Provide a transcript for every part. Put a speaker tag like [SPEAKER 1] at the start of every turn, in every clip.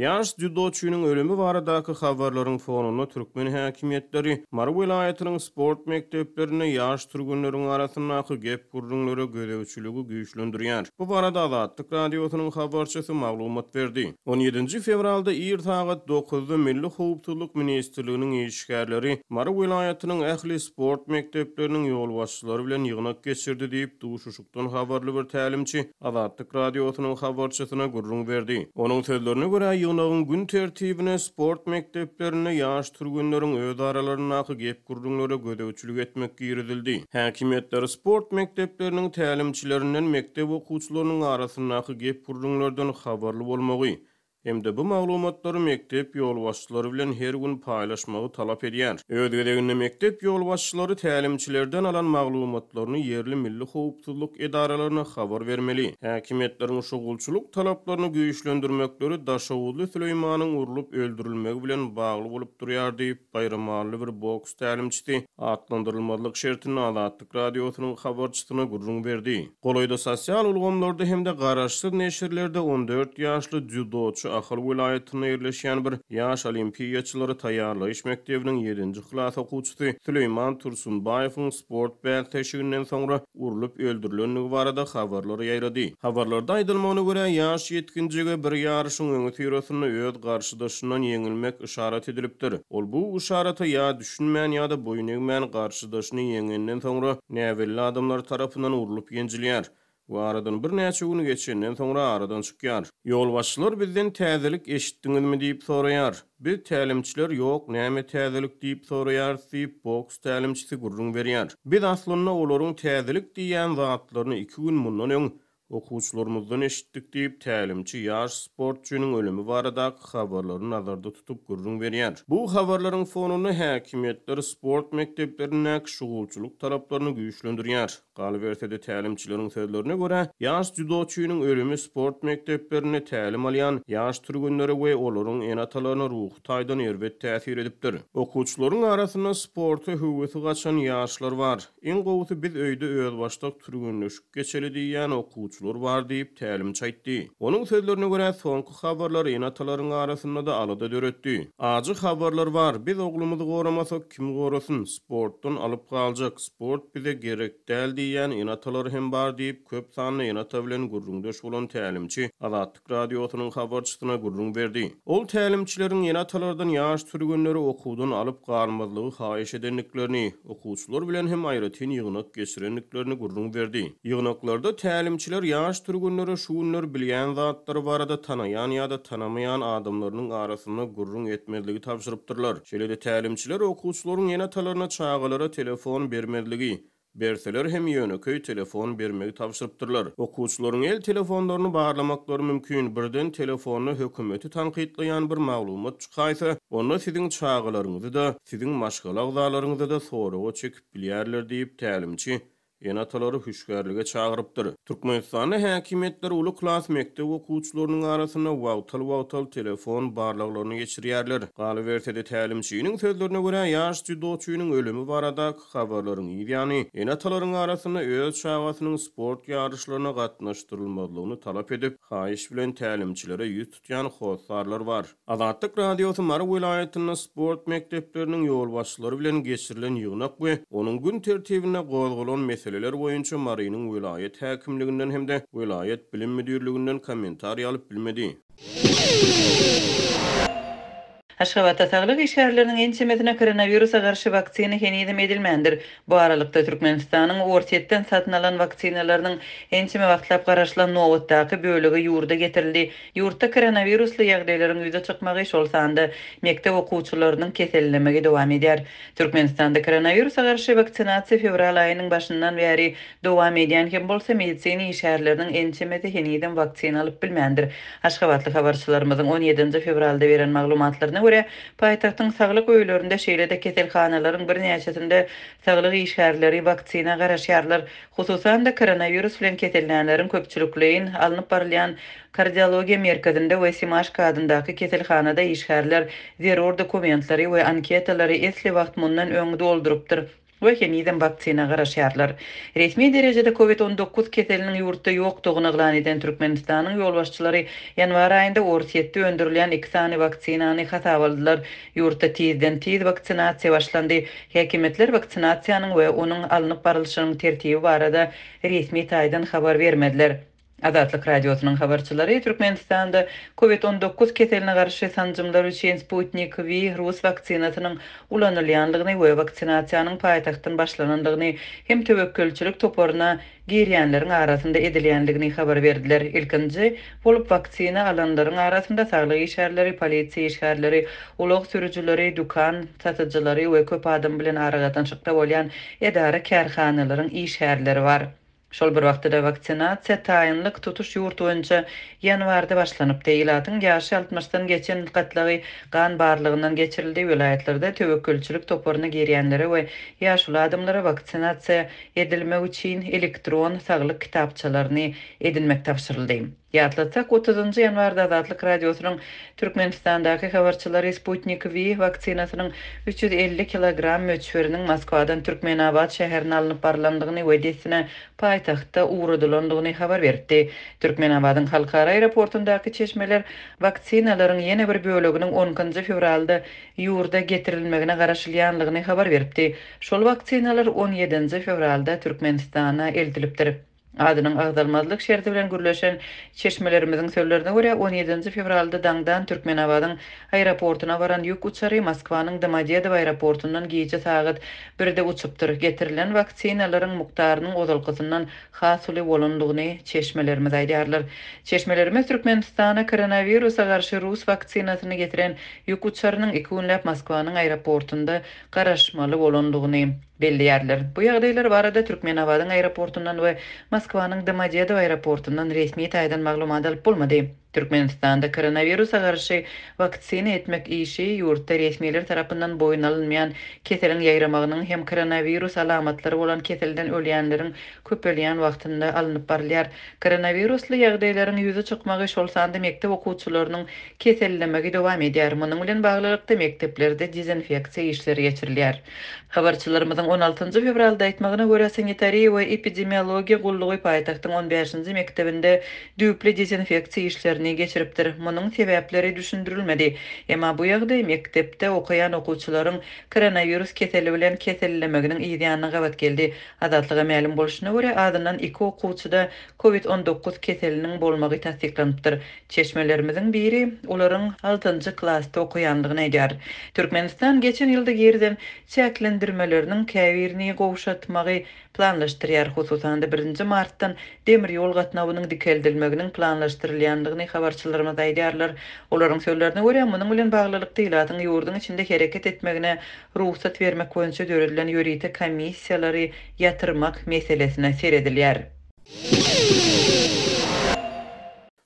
[SPEAKER 1] Ýaş dzýudoçynyň ölümi baradaky habarlaryň fonunda türkmen häkimiýetleri Mary welaýatynyň sport mekdeplerinde ýaş türgenleriň arasyndaky gep-gürrüňlere gözegçiligi güýçlendirýär. Bu barada Azatlyk Radiosynyň habarçysy maglumat berdi. On ýedinji fewralda ir sagat dokuzda Milli howpsuzlyk ministrliginiň işgärleri Mary welaýatynyň ähli sport mekdepleriniň ýolbaşçylary bilen ýygnak geçirdi diýip, Tun habarly bir tälimçi Azatlyk Radiosynyň habarçysyna gürrüň berdi. Onuň sözlerine görä, ýygnagyň gün tertibine sport mekdeplerinde ýaş türgenleriň öz aralaryndaky gep-gürrüňlere gözegçilik etmek girizildi. Häkimiýetler sport mekdepleriniň tälimçilerinden mekdep okuwçylarynyň arasyndaky gep-gürrüňlerden habarly bolmagy, hem-de bu maglumatlary mekdep ýolbaşçylary bilen her gün paýlaşmagy talap edýär. Öz gezeginde mekdep ýolbaşçylary tälimçilerden alan maglumatlaryny ýerli milli howpsuzlyk edaralaryna habar bermeli. Häkimiýetleriň şugulçylyk talaplaryny güýçlendirmekleri Daşoguzly Süleýmanyň urlup öldürilmegi bilen bagly bolup durýar diýip, baýramally bir boks tälimçisi atlandyrylmazlyk şertinde Azatlyk Radiosynyň habarçysyna gürrüň berdi. Golaýda sosial ulgamlarda hem-de garaşsyz neşirlerde on dört ýaşly dzýudoçy Ahal welaýatynda ýerleşýän bir ýaş olimpiýaçylary taýýarlaýyş mekdebiniň ýedinji klas okuwçysy Süleýman Tursunbaýewiň sport bäsleşiginden soňra urlup öldürilendigi barada habarlar ýaýrady. Habarlarda aýdylmagyna görä, ýaş ýetginjege bir ýaryşyň öňüsyrasynda öz garşydaşyndan ýeňilmek yşarat edilipdir. Ol bu yşarata ýa Düşünmän ýa-da boýun egmän garşydaşyny ýeňenden soňra, näbelli adamlar tarapyndan urlup-ýenjilýär we aradan birnäçe gün geçenden soňra aradan çykýar. Ýolbaşçylar bizden täzelik eşitdiňizmi diýip soraýar. Biz tälimçiler ýok näme täzelik diýip soraýarys diýip, boks tälimçisi gürrüň berýär. Biz aslynda olaryň täzelik diýýän zatlaryny iki gün mundan öň Okuwçylarymyzdan eşitdik diýip, tälimçi ýaş sportçynyň ölümi baradaky habarlary nazarda tutup gürrüň berýär. Bu habarlaryň fonunda häkimiýetler sport mekdeplerindäki şugulçylyk talaplaryny güýçlendirýär. Galyberse-de, tälimçileriň sözlerine görä, ýaş dzýudoçynyň ölümi sport mekdeplerinde tälim alýan ýaş türgenlere we olaryň ene-atalaryna ruhy taýdan erbet täsir edipdir. Okuwçylaryň arasynda sporta höwesi gaçan ýaşlar bar. Iň gowusy biz öýde özbaşdak türgenleşik geçeli diýýän okuwçylar bar diýip, tälimçi aýtdy. Onuň sözlerine görä, soňky habarlar ene-atalaryň arasynda-da alada döretdi. Ajy habarlar bar. Biz oglumyzy goramasak, kim gorasyn? Sportdan alyp galjak, sport bize gerek däl diýýän ene-atalar hem bar diýip, köp sanly ene-ata bilen gürrüňdeş bolan tälimçi Azatlyk Radiosynyň habarçysyna gürrüň berdi. Ol tälimçileriň ene-atalardan ýaş türgenleri okuwdan alyp galmazlygy haýyş edendiklerini, okuwçylar bilen hem aýratyn ýygnak geçirendiklerini gürrüň berdi. Ýygnaklarda tälimçiler ýaş türgenlere şu günler bilýän zatlary barada tanaýan ýa-da tanamaýan adamlarynyň arasynda gürrüň etmezligi tabşyrypdyrlar. Şeýle-de tälimçiler okuwçylaryň ene-atalaryna çagalara telefon bermezligi, Berseler hem ýönekeý telefon bermegi tabşyrypdyrlar. Okuwçylaryň el telefonlaryny barlamaklary mümkin, birden telefonda hökümeti tankytlaýan bir maglumat çykaýsa, onda siziň çagalaryňyzy-da, siziň maşgala agzalaryňyzy-da soraga çekip bilýärler diýip, tälimçi ene-atalary hüşgärlige çagyrypdyr. Türkmenistanda häkimiýetler uly klas mekdep okuwçylarynyň arasynda wagtal-wagtal telefon barlaglaryny geçirýärler. Galyberse-de, tälimçiniň sözlerine görä, ýaş dzýudoçynyň ölümi barada Habarlaryň yz ýany, Ene-atalaryň arasynda öz çagasynyň sport ýaryşlaryna gatnaşdyrylmazlygyny talap edip, haýyş bilen tälimçilere ýüz tutýan hossarlar bar. Azatlyk Radiosy Mary welaýatynda sport mekdepleriniň ýolbaşçylary bilen geçirilen ýygnak we onuň gün tertibinde gozgalan meseleler boýunça Marynyň welaýat häkimliginden hem-de welaýat bilim müdirliginden kommentariý alyp bilmedi.
[SPEAKER 2] Aşgabatda saglyk işgärleriniň ençemesine koronawirusa garşy waksina henizem edilmändir. Bu aralykda, Türkmenistanyň Orsýetden satyn alan waksinalarynyň ençeme wagtlap garaşylan nobatdaky bölegi ýurda getirildi. Ýurtda koronawirusly ýagdaýlaryň ýüze çykmagy, şol sanda mekdep okuwçylarynyň kesellemegi dowam edýär. Türkmenistanda koronawirusa garşy waksinasiýa fewral aýynyň başyndan bäri Dowam edýän hem bolsa, medisina işgärleriniň ençemesi henizem waksina alyp bilmändir. Aşgabatly habarçylarymyzyň on ýedinji fewralda beren maglumatlaryna görä, paýtagtyň saglyk öýlerinde, şeýle-de keselhanalaryň birnäçesinde saglyk işgärleri waksina garaşýarlar. Hususan-da, koronawirus bilen kesellänleriň köpçülikleýin alnyp barylýan Kardiologiýa merkezinde we Simaşka adyndaky keselhanada işgärler zerur dokumentlary we anketalary esli wagt mundan öň doldurypdyr. we henizem waksina garaşýarlar. Resmi derejede Covid on dokuz keseliniň ýurtda ýokdugyny yglan eden Türkmenistanyň ýolbaşçylary ýanwar aýynda Orsýetde öndürilýän iki sany waksinany hasaba aldylar. Ýurtda tizden-tiz waksinasiýa başlandy. Häkimiýetler waksinasiýanyň we onuň alnyp barylyşynyň tertibi barada resmi taýdan habar bermediler. Azatlyk Radiosynyň habarçylary Türkmenistanda Covid on dokuz keseline garşy sanjymlar üçin Sputnik V rus waksinasynyň ulanylýandygyny we waksinasiýanyň paýtagtdan başlanandygyny hem töwekgelçilik toparyna girýänleriň arasynda edilýändigini habar berdiler. Ilkinji bolup waksina alanlaryň arasynda saglyk işgärleri, polisiýa işgärleri, ulag sürüjileri, dükan satyjylary we köp adam bilen aragatnaşykda bolýan edara-kärhanalaryň işgärleri bar. Şol bir wagtda-da waksinasiýa taýynlyk tutuş ýurt boýunça ýanwarda başlanypdy. Ilatyň ýaşy altmyşdan geçen gatlagy gan barlagyndan geçirildi. Welaýatlarda töwekgelçilik toparyna girýänlere we ýaşuly adamlara waksinasiýa edilmek üçin elektron saglyk kitapçalaryny edinmek tabşyryldy. Ýatlatsak, otuzynjy ýanwarda Azatlyk Radiosynyň Türkmenistandaky habarçylary Sputnik V waksinasynyň üç ýüz elli kilogram möçberiniň Moskwadan Türkmenabat şäherine alnyp barlandygyny we dessine paýtagtda ugradylandygyny habar beripdi. Türkmenabadyň halkara aeroportundaky çeşmeler waksinalaryň ýene bir böleginiň onkinji fewralda ýurda getirilmegine garaşylýanlygyny habar beripdi. Şol waksinalar on ýedinji fewralda Türkmenistana eltilipdir. Adynyň agzalmazlyk şerti bilen gürleşen çeşmelerimiziň sözlerine görä, on ýedinji fewralda daňdan Türkmenabadyň aeroportyna baran ýük uçary Moskwanyň Domodedow aeroportyndan gije sagat birde uçupdyr. Getirilen waksinalaryň mukdarynyň ozalkysyndan has uly bolandygyny çeşmelerimiz aýdýarlar. Çeşmelerimiz Türkmenistana koronawirusa garşy rus waksinasyny getiren ýük uçarynyň iki günläp Moskwanyň aeroportynda garaşmaly bolandygyny, Belleýärler. Bu ýagdaýlar barada Türkmenabadyň aeroportundan we Moskwanyň Domodedow aeroportundan resmi taýdan maglumat alyp bolmady. Türkmenistanda koronawirusa garşy waksina etmek işi ýurtda resmiler tarapyndan boýun alynmaýan keseliň ýaýramagynyň hem koronawirus alamatlary bolan keselden ölýänleriň köpelýän wagtynda alnyp barylýar. Koronawirusly ýagdaýlaryň ýüze çykmagy, şol sanda mekdep okuwçylarynyň kesellemegi dowam edýär. Munuň bilen baglylykda, mekdeplerde dezinfeksiýa işleri geçirilýär. Habarçylarymyzyň on altynjy fewralda aýtmagyna görä, sanitariýa we epidemiologiýa gullugy paýtagtyň on bäşinji mekdebinde düýpli dezinfeksiýa işlerini geçiripdir. Munuň sebäpleri düşündirilmedi. Emma bu ýagdaý mekdepde okaýan okuwçylaryň koronawirus keseli bilen kesellemeginiň yzýanyna gabat geldi. Azatlyga mälim bolşuna görä, azyndan iki okuwçyda Covid on dokuz keseliniň bolmagy tassyklanypdyr. Çeşmelerimiziň biri olaryň altynjy klasda okaýandygyny aýdýar. Türkmenistan geçen ýylda girizen çäklendirmeleriniň käbirini gowşatmagy planlaşdyrýar, hususan-da, birinji martdan demir ýol gatnawynyň dikeldilmeginiň planlaşdyrylýandygyny habarçylarymyz aýdýarlar. Olaryň sözlerine görä, munuň bilen baglylykda ilatyň ýurduň içinde hereket etmegine rugsat bermek boýunça döredilen ýörite komissiýalary ýatyrmak meselesine seredilýär.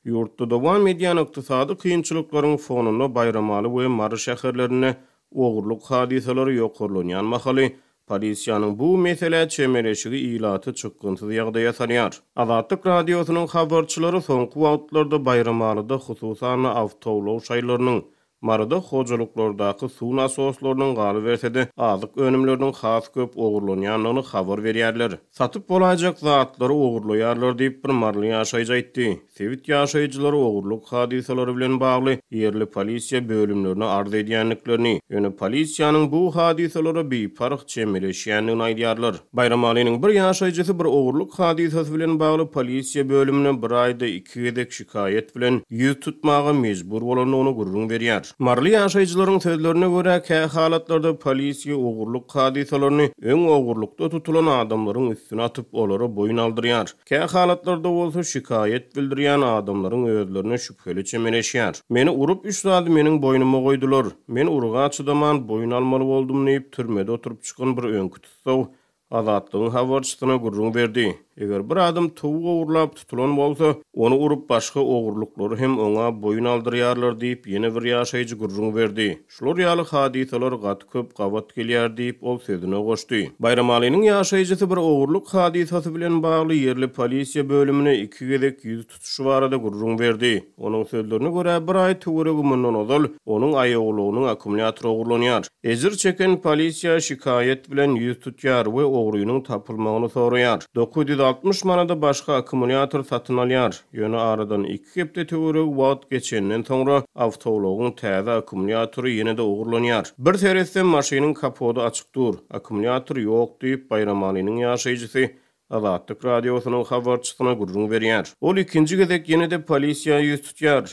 [SPEAKER 1] Ýurtda dowam edýän ykdysady kynçylyklaryň fonunda Baýramaly we Mary şäherlerinde ogurlyk hadysalary ýokarlanýan mahaly, polisiýanyň bu meselä çemeleşigi ilaty çykgynsyz ýagdaýa salýar. Azatlyk Radiosynyň habarçylary soňky wagtlarda Baýramalyda hususan-da awtoulag şaýlarynyň, Maryda hojalyklardaky suw nasoslarynyň galyberse-de, azyk önümleriniň has köp ogurlanýandygyny habar berýärler. Satyp bolaýjak zatlary ogurlaýarlar diýip, bir maryly ýaşaýjy aýtdy. Sebit ýaşaýjylary ogurlyk hadysalary bilen bagly ýerli polisiýa bölümlerine arz edýändiklerini, ýöne polisiýanyň bu hadysalara biparh çemeleşýändigini aýdýarlar. Baýramalynyň bir ýaşaýjysy bir ogurlyk hadysasy bilen bagly polisiýa bölümine bir aýda iki gezek şikaýat bilen ýüz tutmaga mejbur bolandygyny gürrüň berýär. Maryly ýaşaýjylaryň sözlerine görä, kähalatlarda polisiýa ogurlyk hadysalaryny öň ogurlykda tutulan adamlaryň üstüne atyp, olara boýun aldyrýar. Kähalatlarda bolsa şikaýat bildirýän adamlaryň özlerine şübheli çemeleşýär. Meni urup, üç zady meniň boýnuma goýdular. Men uruga çydaman, boýun almaly boldum diýip, türmede oturyp çykan bir öňki tussag Azatlygyň habarçysyna gürrüň berdi. Eger bir adam towuk ogurlap tutulan bolsa, ony urup başga ogurlyklary hem oňa boýun aldyrýarlar diýip, ýene bir ýaşaýjy gürrüň berdi. Şular ýaly hadysalar gaty köp gabat gelýär diýip, ol sözüne goşdy. Baýramalynyň ýaşaýjysy bir ogurlyk hadysasy bilen bagly ýerli polisiýa bölümine iki gezek ýüz tutuşy barada gürrüň berdi. Onuň sözlerine görä, bir aý töweregi mundan ozal, onuň aýawlygynyň akkumulýatory ogurlanýar. Ejir çeken polisiýa şikaýat bilen ýüz tutýar we ogrynyň tapylmagyny soraýar. Dokuz ýüz altmyş manada başga akkumulýator satyn alýar. Ýöne aradan iki hepde töweregi wagt geçenden soňra, awtoulagyň täze akkumulýatory ýene-de ogurlanýar. Bir seretsem, maşynyň kapody açyk dur. Akkumulýator ýok diýip, Baýramalynyň ýaşaýjysy Azatlyk Radiosynyň habarçysyna gürrüň berýär. Ol ikinji gezek ýene-de polisiýa ýüz tutýar.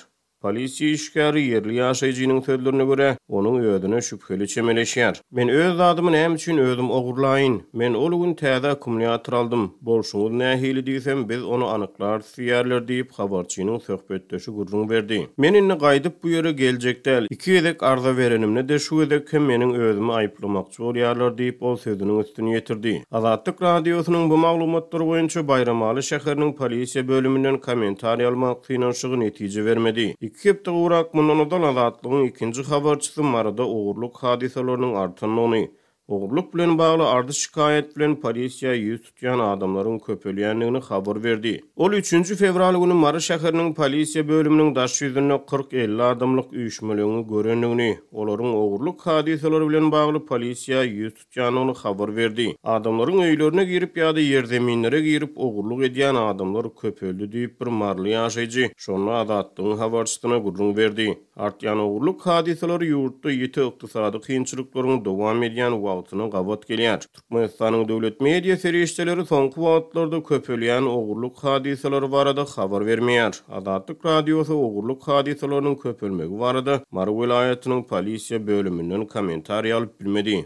[SPEAKER 1] Polisiýa işgäri ýerli ýaşaýjynyň sözlerine görä, onuň özüne şübheli çemeleşýär. Men öz zadymy näme üçin özüm ogurlaýyn? Men ol gün täze akkumulýator aldym. Bolşuňyz nähili diýsem, biz ony anyklarsy Süýerler diýip, habarçynyň söhbetdeşi gürrüň berdi. Men indi gaýdyp bu ýere geljek däl. Iki gezek arza berenimde-de şu gezek hem meniň özümi aýyplamakçy bolýarlar diýip, ol sözüniň üstüni ýetirdi. Azatlyk Radiosynyň bu maglumatlar boýunça Baýramaly şäheriniň polisiýa bölüminden kommentariýa almak synanyşygy netije bermedi. Iki hepde gowrak mundan ozal Azatlygyň ikinji habarçysy Maryda ogurlyk hadysalarynyň artandygyny, Ogurlyk bilen bagly arz-şikaýat bilen polisiýa ýüz tutýan adamlaryň köpelýändigini habar berdi. Ol üçünji fewral güni Mary şäheriniň polisiýa bölüminiň daş ýüzünde kyrk-elli adamlyk üýşmeleňi görendigini, olaryň ogurlyk hadysalary bilen bagly polisiýa ýüz tutýandygyny habar berdi. Adamlaryň öýlerine girip ýa-da ýerzeminlere girip ogurlyk edýän adamlar köpeldi diýip, bir maryly ýaşaýjy şonda Azatlygyň habarçysyna gürrüň berdi. Artýan ogurlyk hadysalary ýurtda ýiti ykdysady kynçylyklaryň dowam edýän wagtyna gabat gelýär. Türkmenistanyň döwlet media serişdeleri soňky wagtlarda köpelýän ogurlyk hadysalary barada habar bermeýär. Azatlyk Radiosy ogurlyk hadysalarynyň köpelmegi barada Mary welaýatynyň polisiýa bölüminden kommentariý alyp bilmedi.